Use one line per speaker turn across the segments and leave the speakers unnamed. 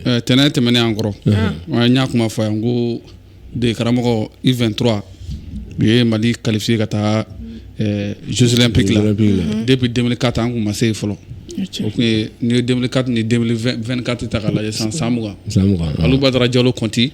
Eh, tɛnɛn tɛmɛnen an kɔrɔ n y'a kuma fɔ yan ko de karamɔgɔ u 23 min ye mali qualifié ka taa eh, jeux olympiques la depuis 2004 an kun ma se yen fɔlɔ o kun ye n'i ye 2004 ni 2024 ta k'a lajɛ san san mugan san mugan alu badara jalo kɔnti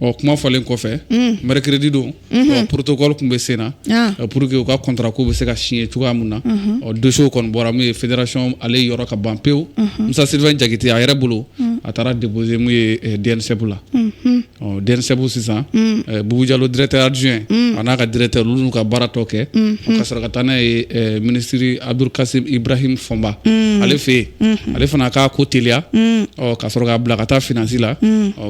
ɔ kuma fɔlen kɔfɛ mercredi don ɔ protocole kun bɛ sen na Ah. ɔ pour que u ka contrat ko bɛ se ka signer cogoya min na ɔ dossier kɔni bɔra min ye fédération ale yɔrɔ ka ban pewu musa sylvain jakite a yɛrɛ bolo a taara déposer min ye eh, dnsep la ɔ dnsep sisan eh, bubu jalo directeur adjoint a n'a ka directeur olu n'u ka baara tɔ kɛ ɔ, ka sɔrɔ ka taa n'a ye eh, ministre abdul kasim ibrahim fɔnba ale fɛ yen ale fana k'a ko teliya ɔ, ka sɔrɔ k'a bila ka taa finance la ɔ,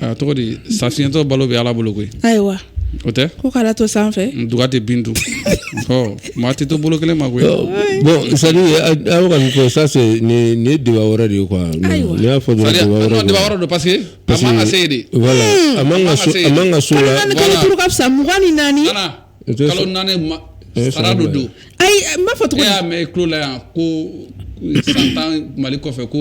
A tɔgɔ di sa fiyentɔ balo bɛ ala bolo koyi ayiwa o
tɛ ko
k'ala to
sanfɛ duga tɛ bin dun
ɔ maa tɛ to bolo kelen ma koyi bon c'est
à dire aw ka nin ko ça c'est débat wɛrɛ de ye quoi n'i y'a fɔ dɔrɔn débat wɛrɛ don parce que parce
que se de
a man ka so la kalo duuru ka fisa mugan
ni naani
kalo naani sara don don ayi n b'a fɔ e
tuguni y'a mɛn i tulo la
yan ko san tan mali kɔfɛ ko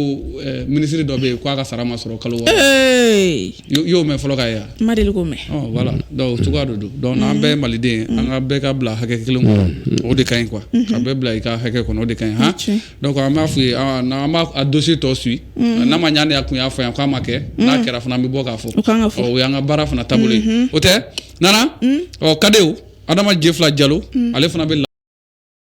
ministre dɔ bɛ yen k'a ka sara ma sɔrɔ kalo wɔɔrɔ i y'o mɛn fɔlɔ ka ye yan kun ma deli k'o mɛn voilà
cogoya
don don donc an bɛɛ ye maliden an ka bɛɛ ka bila hakɛ kelen kɔnɔ o de ka ɲi quoi ka bɛɛ bila i ka hakɛ kɔnɔ o de ka ɲi han donc an b'a f'u ye an b'a dossier tɔ suivre n'a ma ɲɛ ne kun y'a fɔ yan k'a ma kɛ n'a kɛra fana an bɛ bɔ k'a fɔ o y'an ka baara fana taabolo ye o tɛ nana ɔ cadetw adama jɛfila jalo ale fana bɛ la